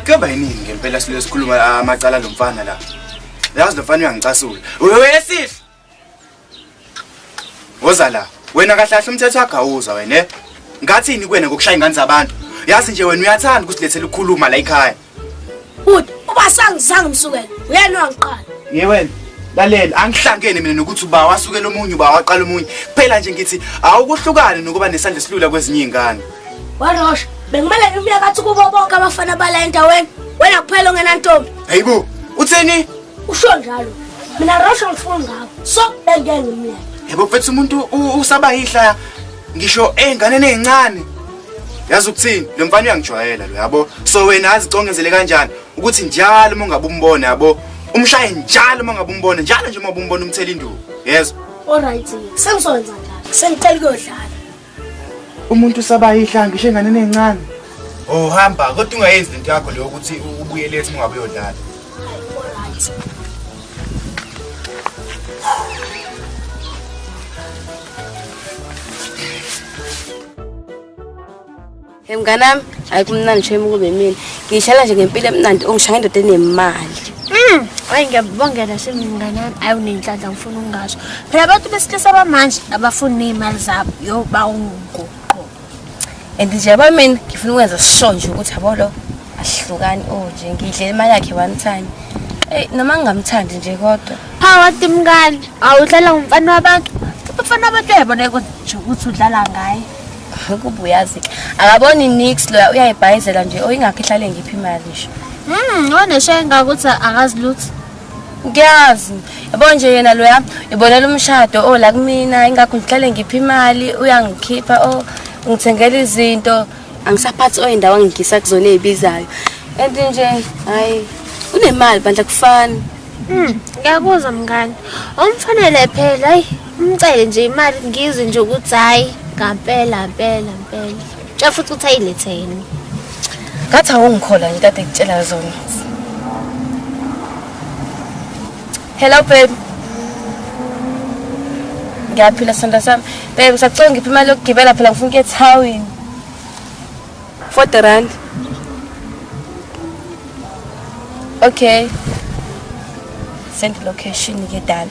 Kuyaba yiningi ngempela silo sikhuluma la amacala lo mfana la. Yazi lo mfana uyangicasula. Wesihle. Woza la. Wena kahlahle umthetho wakho awuza wena. eh? Ngathini kuwena ngokushaya ingane zabantu? Yazi nje wena uyathanda ukusilethela ukukhuluma la ekhaya. Bhuti, uba sangizange umsukele, uyena wangiqala. Ye wena, laleli angihlangene mina nokuthi uba wasukela omunye uba waqala omunye. Kuphela nje ngithi awukuhlukane nokuba nesandla esilula kwezinye izingane. Warosha, bengimele ngimbuye kathi kubo bonke abafana bala endaweni. Wena kuphela ongenantombi. Hayibo, utheni? Usho njalo. Mina Rosha ngifuna ngawo. So bengeke ngimleke. Yebo mfethu umuntu u- usaba yihla ngisho ey'nganeni ey'ncane yazi ukuthini lo mfana uyangijwayela lo yabo so wena azicongezele kanjani ukuthi njalo uma ungabe umbona yabo umshaye njalo uma ungabe umbona njalo nje uma umbona umthela induku yezwa olright sengizokwenza njalo sengicela ukuyodlala umuntu usabayihla ngisho enganeni ey'ncane ohamba kodwa ungayenzi lento yakho leyo ukuthi ubuyele ethi ungabe uyodlala Hey mngane wami, hayi kumnandi shame ukube yimina. Ngishala nje ngempilo emnandi ongishaya indoda enemali. Mm, hayi ngiyabongela shame mngane wami. Hayi unenhlanhla ngifuna ungasho. Phela abantu besilisa bamanje abafuni nezimali zabo. Yo bawungu. and nje yabo mina ngifuna ukwenza sure nje ukuthi yabo lo asihlukani o oh, nje ngidle imali yakhe one time eyi noma ngingamthandi nje kodwa phawati mngani awudlala ngumfana wabantu umfana wabantu uyayibona nje ukuthi udlala ngaye ukuba uyazi akaboni nix loya uyayibhayizela nje oyingakho ihlale ngiphi imali nje um hmm, oneshenga ukuthi akazi lutho kuyazi yabo nje yena loya ibonela umshado o oh, la kumina ingakho ngihlale ngipha imali uyangikhipha o oh, ngithengela izinto angisaphathi oyindawo angigisa kuzona ezibizayo and nje hayi unemali bandla kufana hmm, ngiyakuzwa mngane omfanele phela hayi umcele nje imali ngizwe nje ukuthi hayi ngampela mpela mpela Cha futhi uthi ayilethe yini? Ngathi awungikhola nje kade ngitshela zona. Hello babe. Ngiyaphila sanda sami. Babe ngisacela ngiphe imali yokugibela phela ngifuna ukuya eThawini. 40 rand. Okay. Send location ke dala.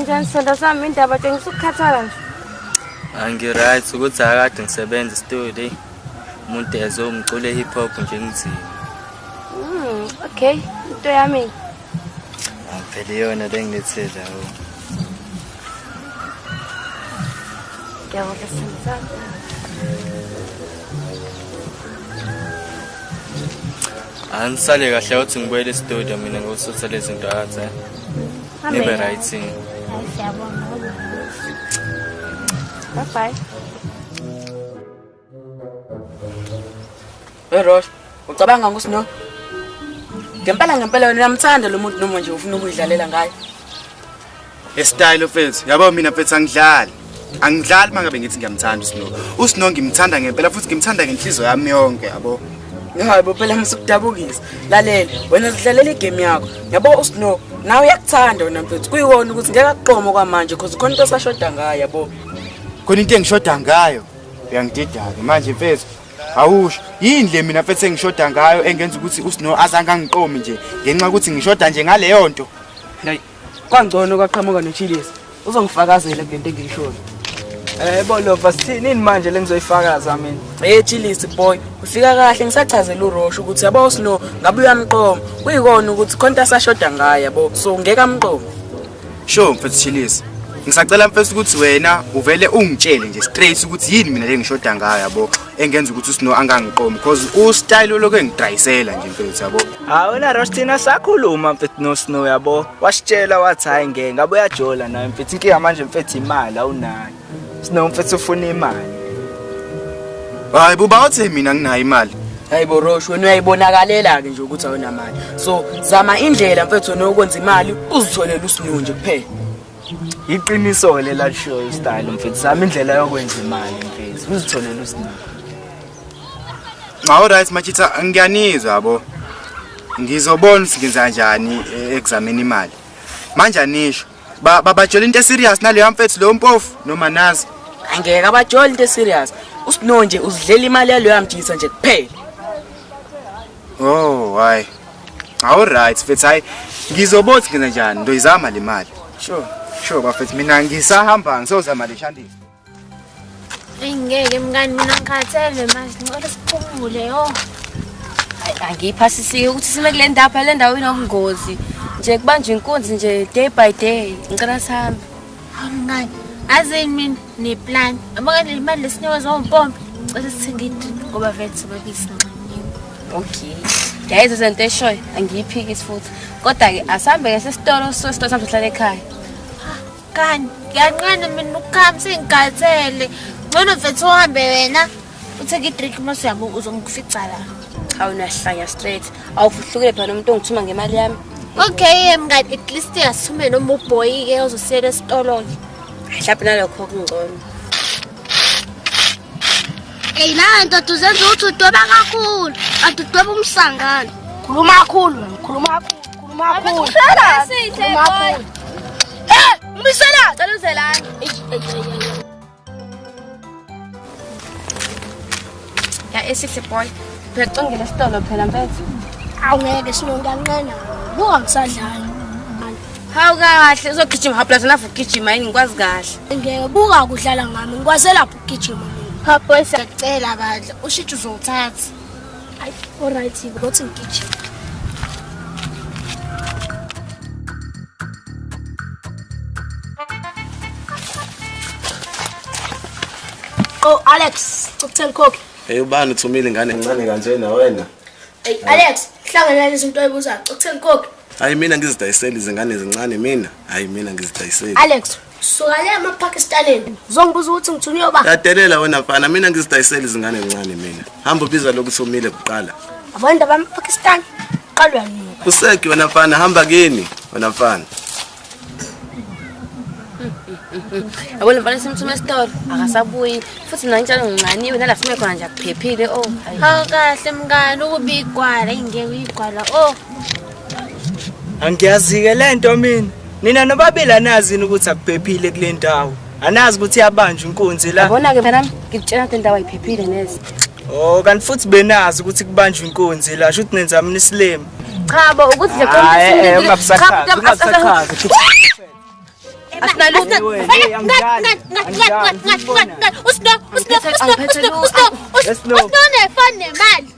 Njani sonto sami indaba tengisa ukukhathala nje. Angi-right ukuthi akade ngisebenza studio. Umuntu ezwe umculo hip hop nje ngizini. Mm, okay. Into yami. Angivele yona lengilethela ho. Ngiyabonga sisi sami. Anisale kahle uthi ngibuyele estudio mina ngosutha lezi zinto athi. Eh. Nibe right. Eh. Bye bye. Hey Rosh, ucabanga ukuthi no? Ngempela ngempela wena uyamthanda lo muntu noma nje ufuna ukuyidlalela ngaye. e style mfethu yabo mina mfethu angidlali angidlali mangabe ngithi ngiyamthanda usino usino ngimthanda ngempela futhi ngimthanda ngenhliziyo yami yonke yabo Hayibo phela ngisukudabukisa. Lalela, wena sidlalela igame yakho. Yabo uSnow, nawe uyakuthanda wena mfethu. Kuyiwona ukuthi ngeke akuqomo kwamanje because khona into esashoda ngayo yabo. Khona into engishoda ngayo. Uyangididaka manje mfethu. Awusho yini le mina mfethu engishoda ngayo engenza ukuthi uSnow azange angiqomi nje ngenxa ukuthi ngishoda nje ngaleyo nto. Kwangcono kwaqhamuka noChilis. Uzongifakazela kulento engiyishoyo. Eh bolova sithini manje lengizoyifakaza mina. Hey Chilisi boy, ufika kahle ngisachazela uRosh ukuthi yabo sino ngabe uyamqoma. Kuyikona ukuthi khonta sashoda ngaye yabo. So ngeke amqoma. Sho mfethu Chilisi. Ngisacela mfethu ukuthi wena uvele ungitshele nje straight ukuthi yini mina lengishoda ngayo yabo. engenza ukuthi usino angangiqomi because ustyle olokhu engidayisela nje mfethu yabo hawu na Rostina sakhuluma mfethu no Snow yabo wasitshela wathi hayi ngeke ngabe uyajola naye mfethu inkinga manje mfethu imali awunayo Snow mfethu ufuna imali hayi buba uthi mina nginayo imali hayi bo Rosh wena uyayibonakalela ke nje ukuthi awunamali so zama indlela mfethu nokwenza imali uzitholele usinow nje kuphela iqiniso-ke lelalishiyo ustayile mfethu zama indlela yokwenza imali mfethu uzitholele usinike nxa oright machitha ngiyanizwa yabo ngizobona ukuthi ngenza kanjani eh, ekuzameni imali manje anisho Ba- babatshela into eserious naleyo mfethu leyo mpofu noma nazi angeke abajoli into eserious usino nje uzidlela imali yaloyo amjisa nje kuphela Oh, why? Awu right, mfethu hayi ngizobothi ngena njani ndoyizama le mali. Sure. Sure bafethu mina ngisahamba ngisozama le shandisi. Eyi ngeke mngani mina ngikhathele manje ngicela siphumule yo. Angiyiphasisiyo ukuthi sime kule ndawo phela le ndawo inobungozi. Nje kubanje inkunzi nje day by day ngicela sihambe. Awumngani. Azini mina ne plan. Abaka le mali lesinikwa zompompi. Cela sithenga idrip ngoba vele sebabisi nxanyeni. Okay. Guys, uzento eshoyo angiyiphiki futhi. Kodwa ke asambe ke sesitolo sesitolo sambe sihlale ekhaya. Kani, ngiyanqena mina ukukhamisa ingikhathele. Ngcono mfethu uhambe wena. utheke idrink uma suyabo uzongifica la cha unahlanya straight awufuhlukile phela nomuntu ongithuma ngemali yami okay mngani at least yasume noma ubhoyi-ke ozosiyela esitolo-ke mhlawumbe nalokho kungcono eyi nawe ndoda uzenza ukuthi udweba kakhulu kanti udweba umsangano khuluma kakhulu wena khuluma kakhulu khuluma kakhulu Sihle, khuluma boy. kakhulu Eh, umbiselani Cela uzelani. Eish, eish, eish, eish. ya esihle boy uyacingela esitolo phela mfethu awu ngeke sinonkanqena buka ngisadlala hawu kahle uzogijima hawu plus nafu ugijima yini ngikwazi kahle ngeke buka kudlala ngami ngikwazela ukugijima mina hawu boy siyacela bandla ushitshe uzowuthatha Ay, alright, ngothi ngigijima. Oh Alex, ukuthenga ikhokhi. Hey ubani uthumile ingane encane kanje na wena? Hey Alex, hlangana lezi zinto oyibuzayo. Ukuthenga ikhokhi. Hayi mina ngizidayisela izingane ezincane mina. Hayi mina ngizidayisela. Alex, Suka le maPakistaneni. Uzongibuza ukuthi ngithunywe ba. Yadelela wena mfana, mina ngizidayisela izingane ezincane mina. Hamba ubiza lokhu somile kuqala. Abantu abamaPakistan qalwa nini? Useki wena mfana, hamba kini wena mfana. Yabona mfana simthuma esitolo akasabuyi futhi mina ngitshela ngincaniwe nala sime khona nje akuphephile oh. Hawu kahle mngani ukubigwala ingeke uyigwala oh. Angiyazike lento mina. Nina nobabili anazini ukuthi akuphephile kule ndawo. Anazi ukuthi iyabanjwa inkunzi la. Yabona ke mntanami ngikutshela ukuthi indawo ayiphephile neze. Oh kanti futhi benazi ukuthi kubanjwa inkunzi la. Shuthi nenza mina isilima. Cha bo ukuthi nje konke Hayi, eh, isintu- ungabusakhazi, Cha, ungabusakhazi. Shuthi Asinalutho. Angiphethe- angiphethe lutho. Yes, no. Usnone fani nemali.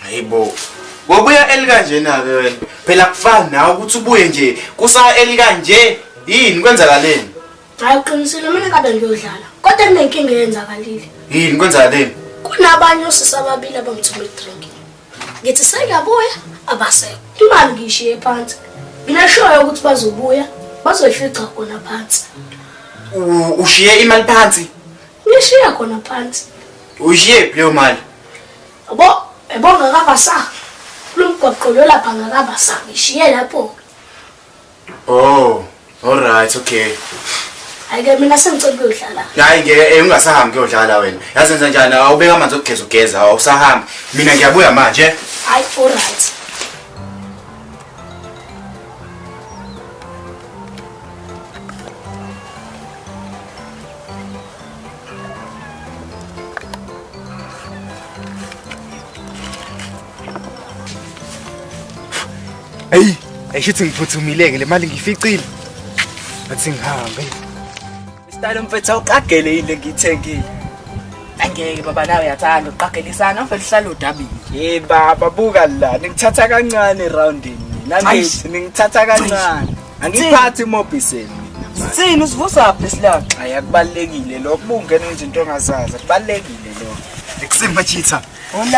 hayibo ngobuya elikanjena-ke wena phela kufani nawe ukuthi ubuye nje kusa elikanje yini kwenzakaleni hayi uqinisile mina kabe ngiyodlala kodwa kunenkinga eyenzakalile yini kwenzakaleni kunabanye osisi ababili abangithuma idrink ngithi sengiyabuya abasekho imali ngiyishiye phansi ngineshoyo ukuthi bazobuya bazoyifica khona phansi U- ushiye imali phansi ngishiya khona phansi uyishiyephi leyo mali Yabo, yabo ngakabasa. Kulomgwaqo lo lapha ngakabasa. Ngishiye lapho. Oh, all right, okay. Ayike mina sengicela ukuyodlala. Hayi ngeke eh, ungasahambi kuyodlala wena. Yazi enza njani? Awubeka amanzi okugeza ugeza, awusahambi. Mina ngiyabuya manje. Hayi, all right. Hey, ayishithi ngiphuthumileke le mali ngificile. Athi ngihambe. Style mfethu uqagele yini le ngiyithengile? Angeke baba nawe uyathanda uqagelisana mfethu uhlala udabile. Hey baba buka la, nikuthatha kancane roundini. Nami Aish. ningithatha kancane. Angiphathi mobiseni. Sini usivusa phi silaka? Hayi akubalekile lokho bungena izinto ongazazi. Kubalekile lokho. Ngikusima chitha.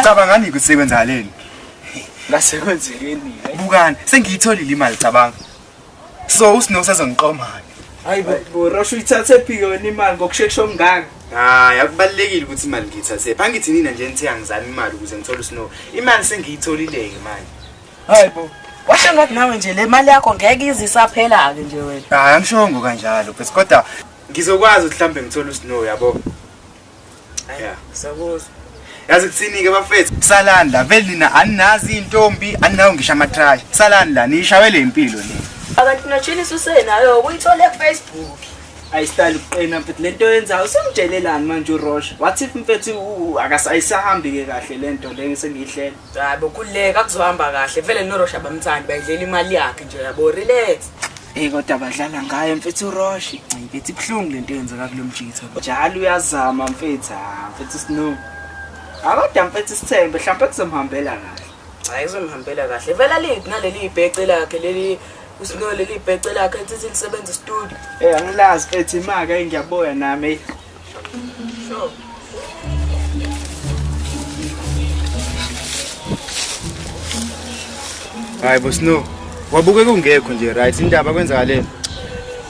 Cabanga ngani kusekwenzaleni? Ngase kwenzekeni. Bukani, sengiyitholile imali cabanga. So usino sezongiqomani. Hayi bo, Rosho ithathe phi yona imali ngokusheshsha okungaka? Hayi akubalekile ukuthi imali ngiyithathe. Phangithi nina nje nithe angizami imali ukuze ngithole usino. Imali sengiyitholile ke manje. hayi bo washo ngathi nawe nje le mali yakho ngeke ize isaphela-ke nje wena hayi angishongo kanjalo bes kodwa ngizokwazi ukuthi mhlawumbe ngithole usnow yabo Yeah. sakuzwa yazi kuthini-ke bafethu salani la vele nina aninazi iy'ntombi aninawo ngisho amatrayi salani la niyishawe le mpilo le akanti notshinisa usenayo ukuyithola efacebook ayisitali kuqina mfethu le nto yenzayo usemdelelani manje urosha wathi mfethu akasayisahambi-ke kahle le nto le sengiyihlela hayi bokhululeka kuzohamba kahle vele norosha bamthandi bayidlela imali yakhe nje yabo relax Hey kodwa badlala ngayo mfethu uRoshi. Hayi bethi kuhlungu lento yenzeka kulomjitha. Njalo uyazama mfethu, ah, mfethu Snow. Akodwa mfethu sithembe mhlawumbe kuzomhambela kahle. Hayi izomhambela kahle. Vela liphi naleli ibhece lakhe leli usino leli ibhece lakhe ethi lisebenza studio. Eh angilazi mfethu imaka engiyaboya nami. hayi bosno wabuke kungekho nje right indaba kwenzakaleni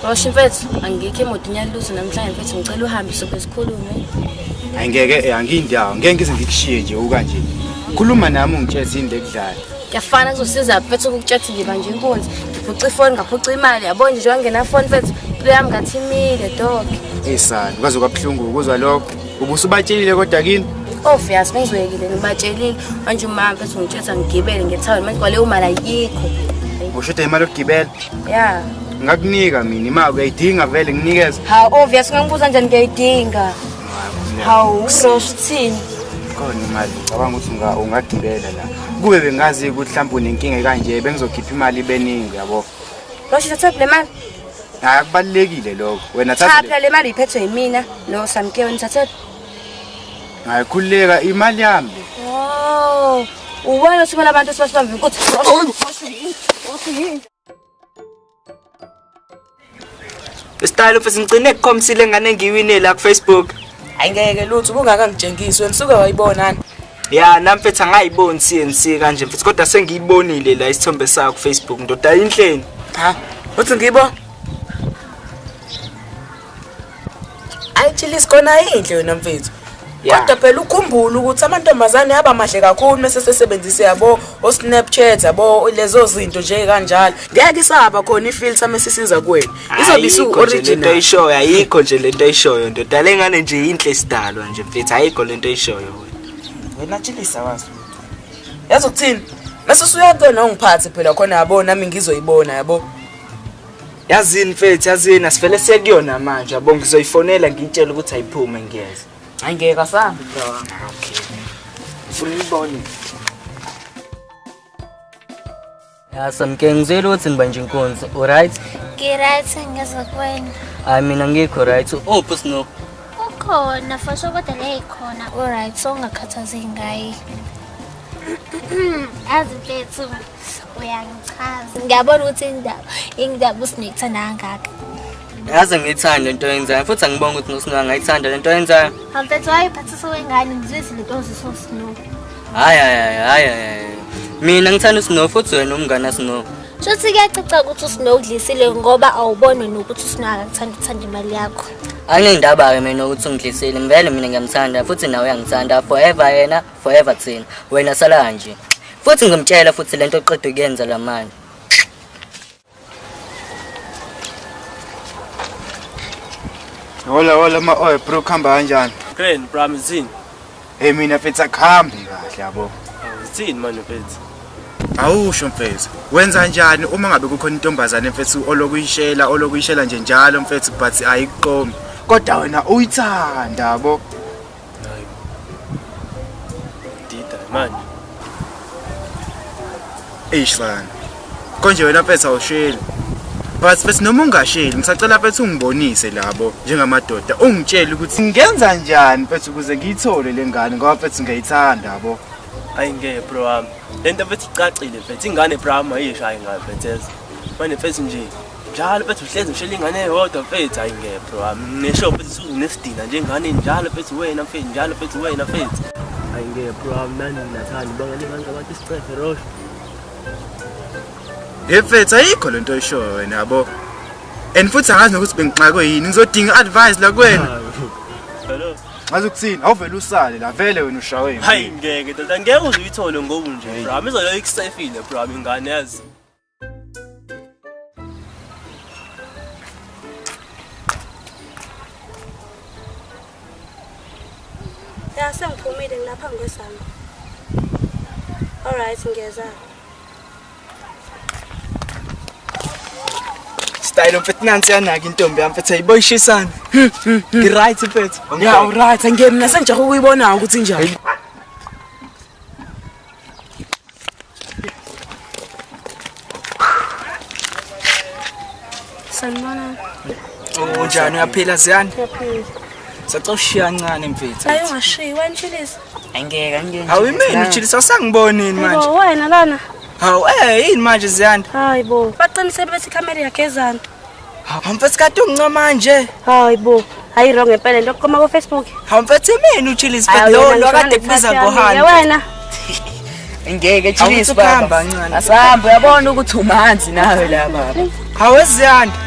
washo mfethu angikho emoto inyalutho namhlanje mfethu ngicela uhambe sobe sikhulume hayi ngeke eh, angiyindawo ngeke ngize ngikushiye nje ukanje khuluma nami ungitshela into ekudlala Kuyafana kuzosiza mfethu ukukutshela ngiba nje inkunzi. Ngiphuca ifoni ngaphuca imali yabo nje njengoba nginafoni mfethu impilo yami ngathi imile doke. Hey sani kwaze kwabuhlungu ukuzwa lokho. Ubusubatshelile kodwa kini? Oh Fias bengizwekile ngibatshelile manje umama mfethu ngitshela ngigibele ngethawini manje kwaleyo mali ayikho. Ushuda imali yokugibela? Yeah. Ngakunika mina imali uyayidinga vele nginikeze. Ha obvious ngangibuza njani ngiyayidinga. hawu usosho ukuthini khona imali ngicabanga ukuthi unga- ungagibela la kube bengazi ukuthi mhlawumbe unenkinga ekanje bengizokhipha imali ibeningi yabo losho thatha le mali hayi akubalulekile lokho wena cha thatha le- phela le mali iphethwe yimina no samkewe nithathe hayi khululeka imali yami le Oh, ubona ukuthi bona abantu sibasibambe ukuthi Style mfethu ngicine kukhomsile ngane ngiwine la ku Facebook. Ayingeke lutho ubungaka ngitshengisi wena suka wayibonani. Ya nami mfethu angayiboni CNC kanje mfethu kodwa sengiyibonile la isithombe sayo ku Facebook ndoda inhleni. Ha, uthi ngibo? Ayi chillis kona inhle yona mfethu. Kodwa phela ukhumbula ukuthi amantombazane aba mahle kakhulu mase sesebenzise yabo o Snapchat yabo lezo zinto nje kanjalo. Ngeke isaba khona ifilter mesisiza kuwena. Izobe isu original. Into oyishoyo ayikho nje lento oyishoyo ndoda lengane nje inhle isidalwa nje mfethu ayikho lento oyishoyo wena. Wena chillis awazi. Yazi ukuthini? Mase usuyakona ungiphathe phela khona yabo nami ngizoyibona yabo. Yazini mfethu, yazini asivele sekuyona manje. Yabo ngizoyifonela ngiyitshela ukuthi ayiphume ngiyeza. Hayi ngeke asambe bro. Okay. Ufuna uyibone. Ya samke ngizwile ukuthi ngiba nje inkunzi. U right? Ngi right ngizwe kwena. Hayi mina ngikho right. Uphi snow? Ukhona fasho kodwa le ikhona. U right so ungakhathazeki ngayi. Azi mfethu. uyangichaza ngiyabona ukuthi indaba ingidaba usinekithanda kangaka yaze ngiyithande into yenzayo futhi angibonga ukuthi nosino angayithanda le nto yenzayo amfethu wayiphathisa wengane ngizwezi le nto ziso snow hayi hayi hayi hayi mina ngithanda usnow futhi wena umngane asnow shothi kuyacaca ukuthi usnow udlisile ngoba awubone nokuthi usnow akakuthanda ukuthanda imali yakho anginendaba-ke mina ukuthi ungidlisile ngivele mina ngiyamthanda futhi nawe uyangithanda forever yena forever thina wena sala kanje futhi ngimtshela futhi lento oqeda ukuyenza lamanje Hola hola ma oy bro khamba kanjani? Grand Bram zini? Hey mina mfethu akhambi kahle yabo. Zini manje mfethu? Awusho mfethu. Wenza kanjani uma ngabe kukhona intombazane mfethu olokuyishela olokuyishela nje njalo mfethu but ayiqomi. Kodwa wena uyithanda yabo. Hayi. Dida manje. Eish bani. Konje wena phetha usheli. But bese noma ungasheli ngisacela phetha ungibonise labo njengamadoda ungitshele ukuthi ngenza njani phetha ukuze ngiyithole lengane ngoba phetha ngiyayithanda yabo. Hayi ngeke bro wami. Lento bethi icacile mfethu ingane bro wami ayishayi ngayo mfethu. Manje mfethu nje njalo bethi uhlezi ngishela ingane eyodwa mfethu hayi ngepho wami ngisho bethi usunesidina njengane njalo bethi wena mfethu njalo bethi wena mfethu hayi ngepho wami nani nathani bangani abantu abathi isicefe rosh Hey mfethu ayikho lento oyishoyo wena yabo and futhi angazi nokuthi bengixakwe yini ngizodinga advice la kuwena hello ngaze ukuthini awuvele usale la vele wena ushawe hayi ngeke ndoda ngeke uze uyithole ngobu nje bro amizoyo ikusefile bro ingane yazi ya sengiphumile ngilapha ngikwesami alright ngiyeza style mfethu nansi yanaka intombi yami mfethu ayiboyishisana ngiright mfethu ya uright angiyemi nasengijahe ukuyibona ukuthi njani Sanibona. Oh, njani uyaphila Ziyani? Ngiyaphila. Sacela ushiya kancane mfethu. Hayi ungashiyi, wanishilisa. Angeke angeke. Hawu imini uchilisa usangiboni yini manje? Yebo wena lana. Hawu eh yini manje Ziyani? Hayi bo. Baqinisele bethi ikhamera iyagezana. Hawu mfethu kade ungincoma nje. Hayi bo. Hayi wrong ngempela into okhoma ku Facebook. Hawu mfethu imini uchillis but lo lo kade kubiza ngohani. Wena. Ngeke chillis baba. Asihamba uyabona ukuthi umanzi nawe la baba. Hawu eziyanda.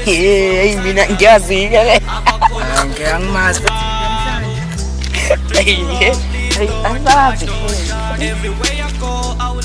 Hey mina ngiyazi ke. Ngeke angimazi. Hey. Hey, I love it. Everywhere I go, I will